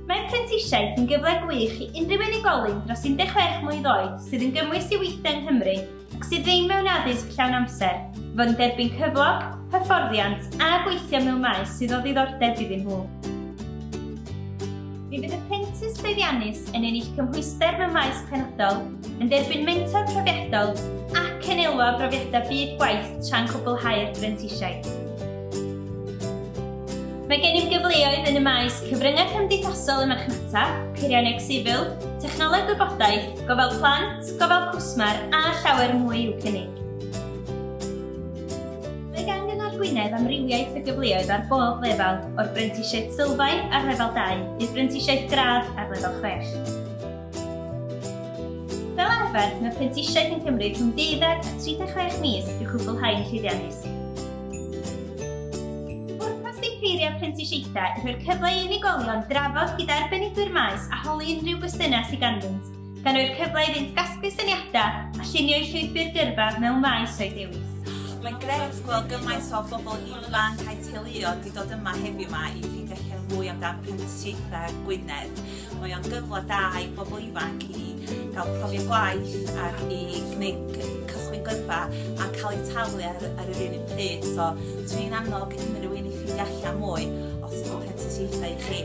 Mae prentisiaeth yn gyfle gwych i unrhyw unigolyn dros 16 mlwydd oed sydd yn gymwys i weithio yng Nghymru ac sydd ddim mewn addysg llawn amser i fod yn derbyn cyflog, hyfforddiant a gweithio mewn maes sydd o ddiddordeb iddyn nhw. Mi fydd y prentis llwyddiannus yn ennill cymhwyster mewn maes penodol, yn derbyn mentor profiadol ac yn elwa o brofiadau byd gwaith tra'n cwblhau'r brentisiaeth. Mae gennym gyfleoedd yn y maes cyfryngau cymdeithasol y marchnata, peirianneg sifil, technoleg gwybodaeth, gofal plant, gofal cwsmer a llawer mwy i'w cynnig. Mae gan Gyngor Gwynedd amrywiaeth o gyfleoedd ar bob lefel, o'r brentisiaeth sylfaen ar lefel 2 i'r brentisiaeth gradd ar lefel 6. Fel arfer, mae prentisiaeth yn cymryd rhwng 12 a 36 mis i'w chwblhau'n llwyddiannus. Pwrpas ddiffeiriau prentisiaethau yw rhoi'r cyfle i unigolion drafod gyda arbenigwyr maes a holi unrhyw gwestiynau sydd ganddynt, gan roi'r cyfle iddynt gasglu syniadau a llunio'u llwybr gyrfa mewn maes o'i dewis. Mae'n grêt gweld gymaint o bobl ifanc a'u teuluoedd wedi dod yma heddiw 'ma i ffeindio allan mwy amdan prentisiaethau Gwynedd. Mae o'n gyfle da i bobl ifanc i gael profiad gwaith ac i gwneud c- cychwyn gyrfa a cael eu talu ar, ar yr un pryd. So, dwi'n annog unrhyw un i ffeindio allan mwy os ydy'n prentisiaethau i chi.